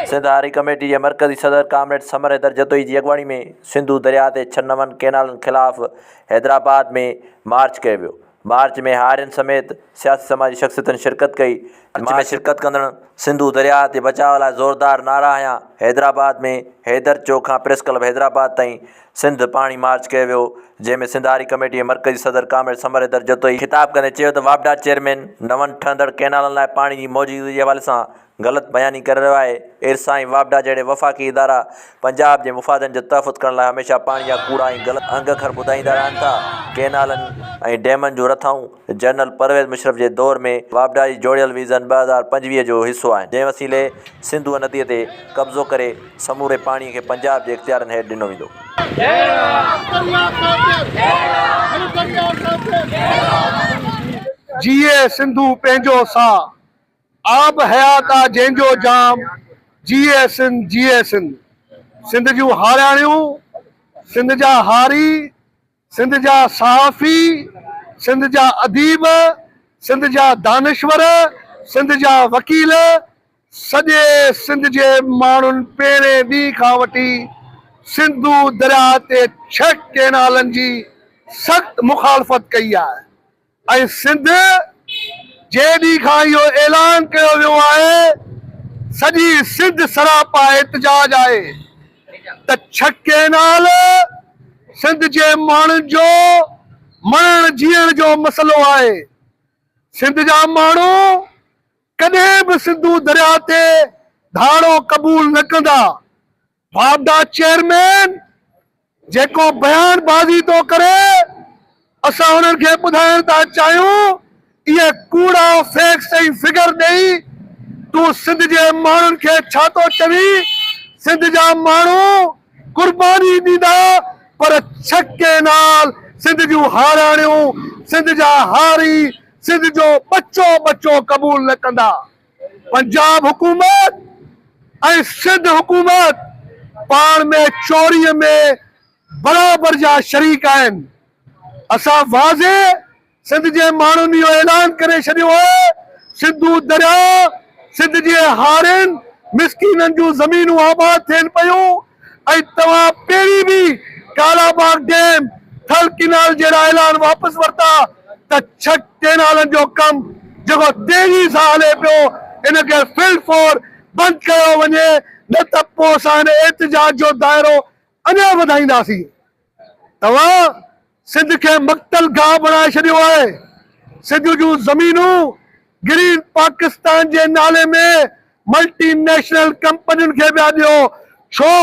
سنڌ آري ڪميٽي جي مرڪزي صدر ڪامريڊ ثمر حيدر جتوئي جي اڳواڻي ۾ سنڌو درياء تي ڇهه نون ڪئنالن خلاف حيدرآباد ۾ مارچ ڪيو ويو مارچ ۾ هارين سميت سياسي سماجي شخصيتن شرڪت ڪئي، مارچ ۾ شرڪت ڪندڙن سنڌو درياهه تي بچاء لاء زوردار نعرا هنيا، حيدرآباد ۾ حيدر چوڪ کان پريس ڪلب حيدرآباد تائين سنڌ پاڻي مارچ ڪيو ويو، جنهن ۾ سنڌ هاري ڪميٽي جي مرڪزي صدر ڪامريڊ سمر حيدر جتوئي خطاب ڪندي چيو ته واپڊا چيئرمين نون ٺهندڙ ڪئنالن لاء پاڻي جي موجودگي جي حوالي سان غلط بياني ڪري رهيو آهي، ارسا ۽ واپڊا جهڙي وفاقي ادارا پنجاب جي مفادن جو تحفظ ڪرڻ لاء هميشه پاڻ جا ڪوڙا ۽ غلط انگ اکر ٻڌائيندا رهن ٿا، ڪئنالن ۽ ڊيمن جون رٿائون جنرل پرويز مشرف جي دور ۾ واپڊا جي جوڙيل ويزن ٻه هزار پنجويهه جو حصو آهن، جنهن وسيلي سنڌوء نديء تي قبضو ڪري سموري پاڻي کي پنجاب جي اختيارن هيٺ ڏنو ويندو. جيئي سنڌو پنهنجو ساهه. آب حيات آ جنهن جو جام، جيئي سنڌ جيئي سنڌ. سنڌ جون هارياڻيون، سنڌ جا هاري، سنڌ جا صحافي، سنڌ جا اديب، سنڌ جا دانشور، سنڌ جا وڪيل، سڄي سنڌ جي ماڻهن پهرين ڏينهن کان وٺي سنڌو درياهه تي ڇهه ڪئنالن جي سخت مخالفت ڪئي آهي. ۽ سنڌ جي ڏينهن کان اهو اعلان ڪيو ويو آهي سڄي سنڌ سراپا احتجاج آهي ته ڇهه ڪينال سنڌ جي ماڻهن جو مئڻ جيئڻ جو مسئلو آهي سنڌ جا ماڻهو ڪڏهن به سنڌو درياء تي ڌاڙو قبول نه ڪندا. واپڊا چيئرمين جيڪو بيان بازي ٿو ڪري اسان انهن کي ٻڌائڻ ٿا چاهيون اهي ڪوڙا فيڪس ۽ فگر ڏئي تون سنڌ جي ماڻهن کي ڇا ٿو چوي سنڌ جا ماڻهو قرباني ڏيندا پر ڇهه ڪينال سنڌ جون هاراڻيون سنڌ جا هاري سنڌ جو ٻچو ٻچو قبول نه ڪندا. پنجاب حڪومت ۽ سنڌ حڪومت پاڻ ۾ چوري ۾ برابر جا شريڪ آهن، اسان واضح سنڌ جي ماڻهن اهو اعلان ڪري ڇڏيو آهي، سنڌو درياء سنڌ جي هارين مسڪينن جون زمينون آباد ٿين پيون، ۽ توهان پهرين به Kalabagh dam, Thal canal جهڙا اعلان واپس ورتا ته ڇهه ڪينالن جو ڪم جيڪو تيزي سان هلي پيو ان کي فل فور بند ڪيو وڃي نه ته پوء اسان هن احتجاج جو دائرو اڃا وڌائينداسين. توهان سنڌ کي مقتل گاهه بڻائي ڇڏيو آهي، سنڌ جون زمينون گرين پاڪستان جي نالي ۾ ملٽي نيشنل ڪمپنين کي پيا ڏيو، ڇو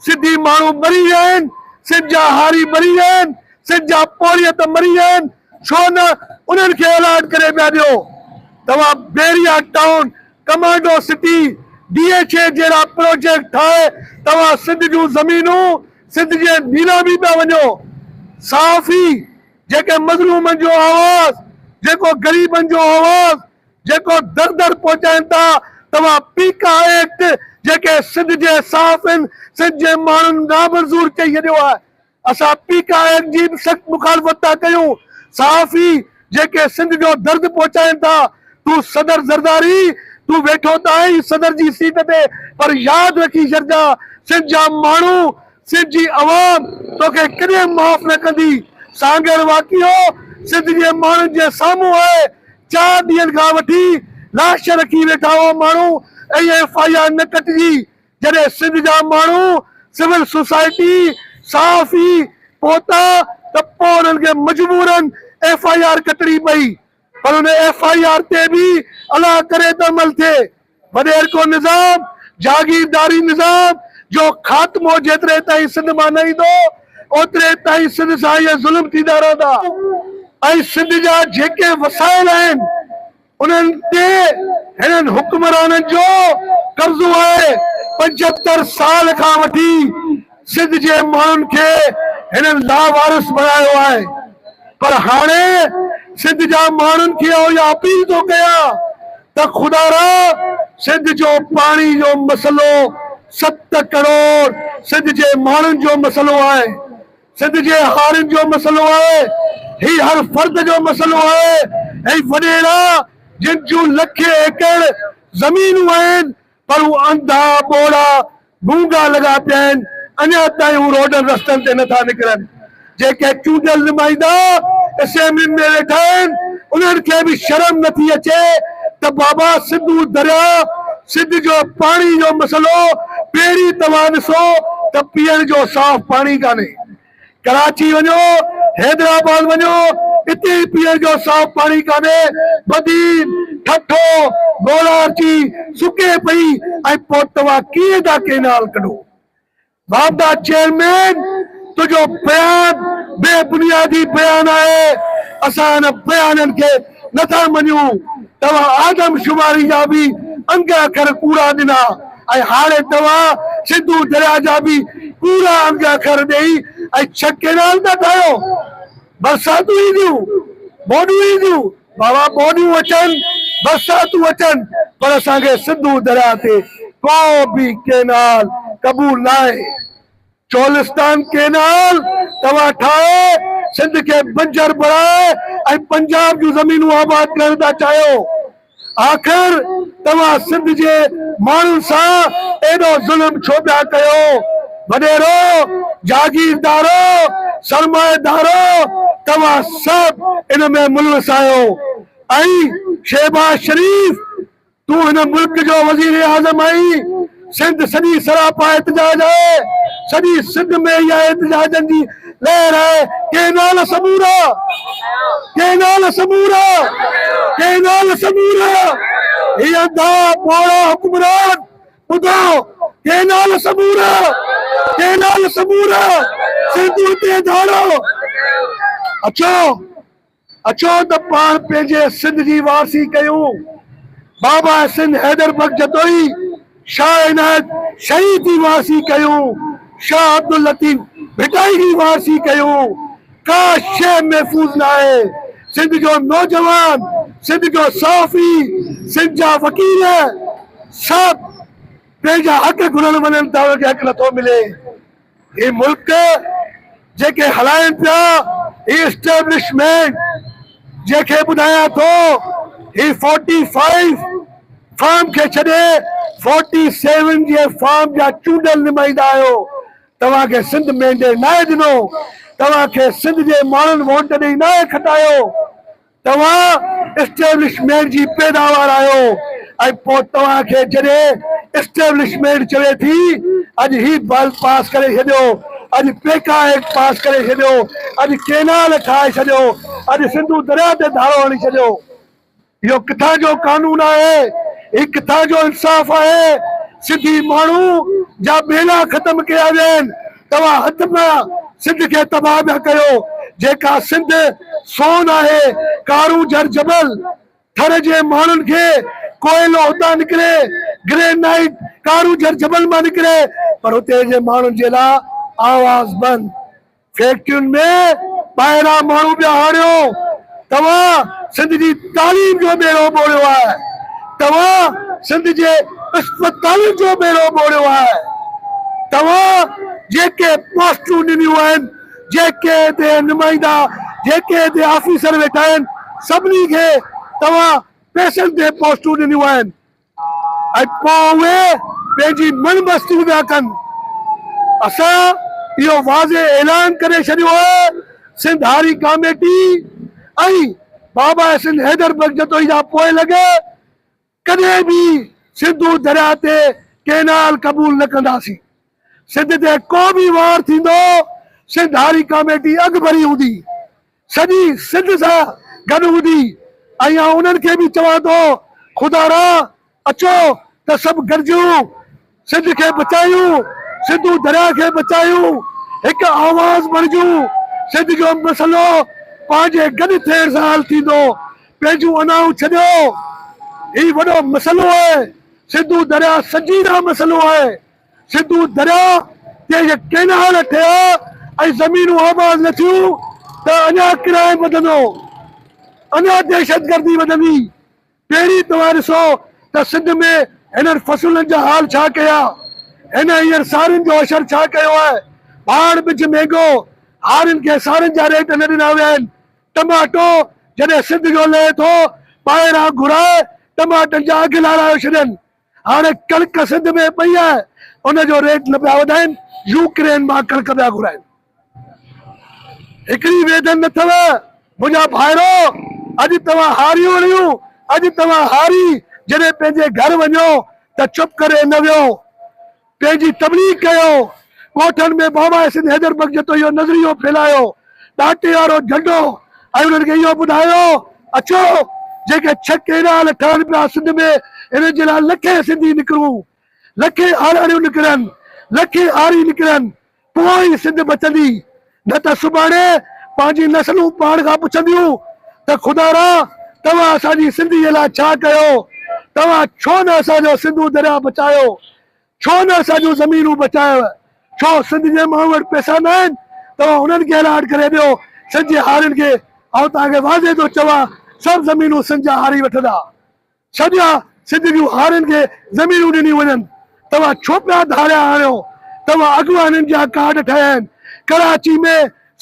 سنڌي ماڻهو مري ويا آهن، سنڌ جا هاري مري ويا آهن، سنڌ جا پورهيت مري ويا آهن، ڇو نه انهن کي الاٽ ڪري پيا ڏيو، توهان Bahria town, commando city, D H A جهڙا پروجيڪٽ ٺاهي توهان سنڌ جون زمينون سنڌ جي نيلامي پيا وڃو صحافي جيڪي مظلومن جو آواز جيڪو غريبن جو آواز جيڪو در در پهچائين ٿا توهان پيڪا ايڪٽ جيڪي سنڌ جي صحافين سنڌ جي ماڻهن نامنظور چئي ڇڏيو آهي اسان پيڪا ايڪٽ جي به سخت مخالفت ٿا ڪيون صحافي جيڪي سنڌ جو درد پهچائين ٿا تون صدر زرداري تون ويٺو ته آهين صدر جي سيٽ تي پر ياد رکي ڇڏجان سنڌ جا ماڻهو سنڌ جي عوام توکي ڪڏهن معاف نه ڪندي سانگهڙ واقعو سنڌ جي ماڻهن جي سامهون آهي چار ڏينهن کان وٺي لاش رکي ويٺا هئا ماڻهو ائين ايف آء آر نه ڪٽجي جڏهن سنڌ جا ماڻهو، سول سوسائٽي، صحافي پهتا ته پوء انهن کي مجبورن ايف آء آر ڪٽڻي پئي پر ان ايف آء آر تي به الله ڪري ته عمل ٿئي. وڏيرڪو نظام، جاگيرداري نظام جو خاتمو جيتري تائين سنڌ مان نه ايندو اوتري تائين سنڌ سان اهي ظلم ٿيندا رهندا ۽ سنڌ جا جيڪي وسائل آهن، انهن تي هنن حڪمرانن جو قبضو آهي، پنجهتر سال کان وٺي سنڌ جي ماڻهن کي هنن لاوارث بڻايو آهي پر هاڻي سنڌ جا ماڻهن کي آئون اها اپيل ٿو ڪيان ته خدا را سنڌ جو پاڻي جو مسئلو ست ڪروڙ سنڌ جي ماڻهن جو مسئلو آهي. سنڌ جي هارين جو مسئلو آهي، هي هر فرد جو مسئلو آهي ۽ وڏيرا جن جون لکين ايڪڙ زمينون آهن پر هو انڌا، ٻوڙا، گونگا لڳا پيا آهن، اڃا تائين هو روڊن رستن تي نٿا نڪرن، جيڪي چونڊيل نمائندا اسيمبلين ۾ ويٺا آهن، انهن کي به شرم نه ٿي اچي ته بابا سنڌو درياء سنڌ جو پاڻي جو مسئلو پهرين توهان ڏسو ته پيئڻ جو صاف پاڻي ڪانهي ڪراچي وڃو حيدرآباد وڃو اتي ئي پيئڻ جو صاف پاڻي ڪانهي بدين ٺٺو گوڙارچي سڪي پئي ۽ پوء توهان ڪيئن ٿا ڪينال ڪڍو بابا چيئرمين تنهنجو بيان بي بنيادي بيان آهي اسان ان بيانن کي نٿا مڃون توهان آدم شماري جا به انگ اکر ڪوڙا ڏنا ۽ هاڻي توهان سنڌو دريا جا به ڪوڙا انگ اکر ڏئي ۽ ڇهه ڪينال ٿا ٺاهيو برساتون اينديون ٻوڏون اينديون بابا ٻوڏيون اچن برساتون اچن پر اسان کي سنڌو درياهه تي ڪو به ڪينال قبول ناهي چولستان ڪينال توهان ٺاهي سنڌ کي بنجر بڻائي ۽ پنجاب جون زمينون آباد ڪرڻ ٿا چاهيو آخر توهان سنڌ جي ماڻهن سان ايڏو ظلم ڇو پيا ڪيو. وڏيرو، جاگيردارو، سرمائيدارو توهان سڀ ان ۾ ملوث آهيو ۽ شهباز شريف تون هن ملڪ جو وزيراعظم آهين، سنڌ سڄي سراپا احتجاج آهي، سڄي سنڌ ۾ اها احتجاجن جي لهر آهي، ڪينال سمورا، ڪينال سمورا، ڪينال سمورا، هي انڌا ٻوڙا حڪمران ٻڌاء ڪينال سمورا ڪينال سمورا سنڌوء تي ڌاڙو اچو اچو ته پاڻ پنهنجي سنڌ جي وارثي ڪيون بابا سنڌ حيدر بخش جتوئي شاهه عنايت شينهن جي وارثي ڪيون شاهه عبداللطيف ڀٽائي جي وارثي ڪيون ڪا شيء محفوظ ناهي، سنڌ جو نوجوان، سنڌ جو صحافي، سنڌ جا وڪيل سڀ پنهنجا حق گهرڻ وڃن ته انهن کي حق نٿو ملي. هي ملڪ جيڪي هلائين پيا هي اسٽيبلشمينٽ جنهن کي ٻڌايان ٿو هي فورٽي فائيو فارم کي ڇڏي فورٽي سيون جي فارم جا چونڊيل نمائندا آهيو. توهان کي سنڌ مينڊيٽ ناهي ڏنو، توهان کي سنڌ جي ماڻهن ووٽ ڏئي ناهي کٽايو، توهان اسٽيبلشمينٽ جي پيداوار آهيو ۽ پوء توهان کي جڏهن اسٽيبلشمينٽ چوي ٿي اڄ هي بل پاس ڪري ڇڏيو، اڄ پيڪا ايڪٽ پاس ڪري ڇڏيو، اڄ ڪينال ٺاهي ڇڏيو، اڄ سنڌو درياء تي ڌاڙو هڻي ڇڏيو، اهو ڪٿان جو قانون آهي؟ هي ڪٿان جو انصاف آهي؟ سڌي ماڻهو جا ٻيلا ختم ڪيا ويا آهن. توهان هٿ پيا سنڌ کي تباهه پيا ڪيو. جيڪا سنڌ سون آهي، ڪارون جر جبل ٿر جي ماڻهن کي ڪوئلو هتان نڪري، گرينائيٽ ڪارون جر جبل مان نڪري پر هتي جي ماڻهن جي لاء آواز بند. فيڪٽرين ۾ ٻاهران ماڻهو پيا آڻيو توهان سنڌ جي تعليم جو ٻيڙو ٻوڙيو آهي توهان سنڌ جي اسپتالن جو ٻيڙو ٻوڙيو آهي توهان جيڪي پوسٽون ڏنيون آهن جيڪي هتي نمائندا جيڪي هتي آفيسر ويٺا آهن سڀني کي توهان پئسن تي پوسٽون ڏنيون آهن ۽ پوء اهي پنهنجي مڙ مستيون پيا ڪن. اسان اهو واضح اعلان ڪري ڇڏيو آهي، سنڌ هاري ڪاميٽي ۽ بابا حسين حيدر بخش جتوئي جا پوء لڳ ڪڏهن به سنڌو درياء تي ڪئنال قبول نه ڪنداسين. سنڌ تي ڪو به وار ٿيندو، سنڌ هاري ڪاميٽي اڳڀري هوندي، سڄي سنڌ سان گڏ هوندي ۽ آئون انهن کي به چوان ٿو خدارا اچو ته سڀ گڏجون سنڌ کي بچايون، سنڌو درياء کي بچايون، هڪ آواز بڻجون، سنڌ جو مسئلو پنهنجي گڏ ٿيڻ سان حل ٿيندو، پنهنجون انائون ڇڏيو، هي وڏو مسئلو آهي، سنڌو درياء سنجيده مسئلو آهي. سنڌو درياء تي جي ڪئنال ٺهيا ۽ زمينون آباد نه ٿيون ته اڃا ڪرائيم وڌندو، اڃا دهشتگردي وڌندي. پهرين توهان ڏسو ته سنڌ ۾ هنن فصلن جا حال ڇا ڪيا. هن هينئر سارين جو حشر ڇا ڪيو آهي. ڀاڻ ٻج مهنگو، هارين کي سارين جا ريٽ نه ڏنا ويا آهن. ٽماٽو جڏهن سنڌ جو لهي ٿو، ٻاهران گهرائي ٽماٽن جا اگهه لارائي ڇڏين. هاڻي ڪڻڪ سنڌ ۾ پئي آهي ان جو ريٽ نه پيا وڌائين يوڪرين مان ڪڻڪ پيا گهرائين هڪڙي ويڌن نه اٿو منهنجا ڀائرو اڄ توهان هاريون رهيون اڄ توهان هاري جڏهن پنهنجي گهر وڃو ته چپ ڪري نه ويهو. پنهنجي تبليغ ڪيو، ڳوٺن ۾ بابا سنڌ حيدر بخش جتو اهو نظريو ڦهلايو، ڏاٽي وارو جهنڊو ۽ انهن کي اهو ٻڌايو، اچو جيڪي ڇهه ڪينال ٺهن پيا سنڌ ۾ انهن جي لاء لکين سنڌي نڪرون، لکين آرهڙيون نڪرن، لکين آري نڪرن، پوء ئي سنڌ بچندي، نه ته سڀاڻي پنهنجيون نسلون پاڻ کان پڇنديون ته خدا را توهان اسان جي سنڌيء لاء ڇا ڪيو؟ توهان ڇو نه اسان جو سنڌو درياهه بچايو؟ ڇو نه اسان جون زمينون بچايو؟ ڇو سنڌ جي ماڻهن وٽ پئسا نه آهن؟ توهان انهن کي الاٽ ڪري ڏيو، سنڌ جي هارين کي. آئون توهان کي واضح ٿو چوان، سڀ زمينون سنڌ جا هاري وٺندا. ڇڏيا سنڌ جون هارين کي زمينون ڏنيون وڃن توهان ڇو پيا ڌاڙيا هڻيو توهان اڳواڻن جا ڪارڊ ٺهيا آهن ڪراچي ۾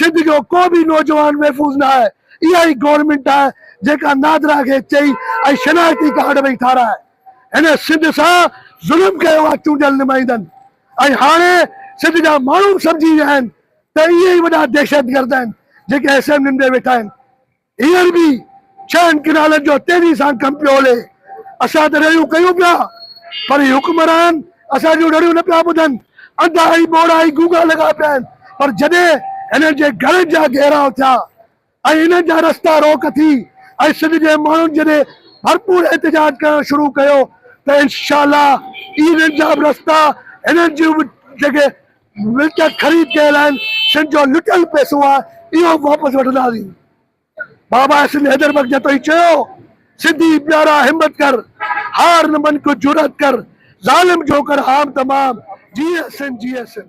سنڌ جو ڪو به نوجوان محفوظ نه آهي اها ئي گورنمينٽ آهي جيڪا نادرا کي چئي ۽ شناختي ڪارڊ پئي ٺارائي هن سنڌ سان ظلم ڪيو آهي چونڊيل نمائندن ۽ هاڻي سنڌ جا ماڻهو به سمجهي ويا آهن ته اهي ئي وڏا دهشتگرد آهن جيڪي اسيمبلين ۾ ويٺا آهن هينئر به ڇهن ڪئنالن جو تيزي سان ڪم پيو هلي. اسان ته رڙيون ڪيون پيا پر هي حڪمران اسان جون رڙيون نه پيا ٻڌن. انڌا ۽ ٻوڙا ئي گونگا لڳا پيا آهن پر جڏهن هنن جي گهرن جا گهيراء ٿيا ۽ هنن جا رستا روڪ ٿي ۽ سنڌ جي ماڻهن جڏهن ڀرپور احتجاج ڪرڻ شروع ڪيو ته انشاء الله ئي هنن جا به رستا هنن جون به جڳهه ملڪيت خريد ڪيل آهن سنڌ جو لٽيل پئسو آهي اهو واپس وٺنداسين باباء سنڌ حيدر بخش جتوئي چيو سنڌي پيارا همت ڪر هار نه من ڪجھ جرئت ڪر ظالم جو ڪر هام تمام جيئي سنڌ جيئي سنڌ.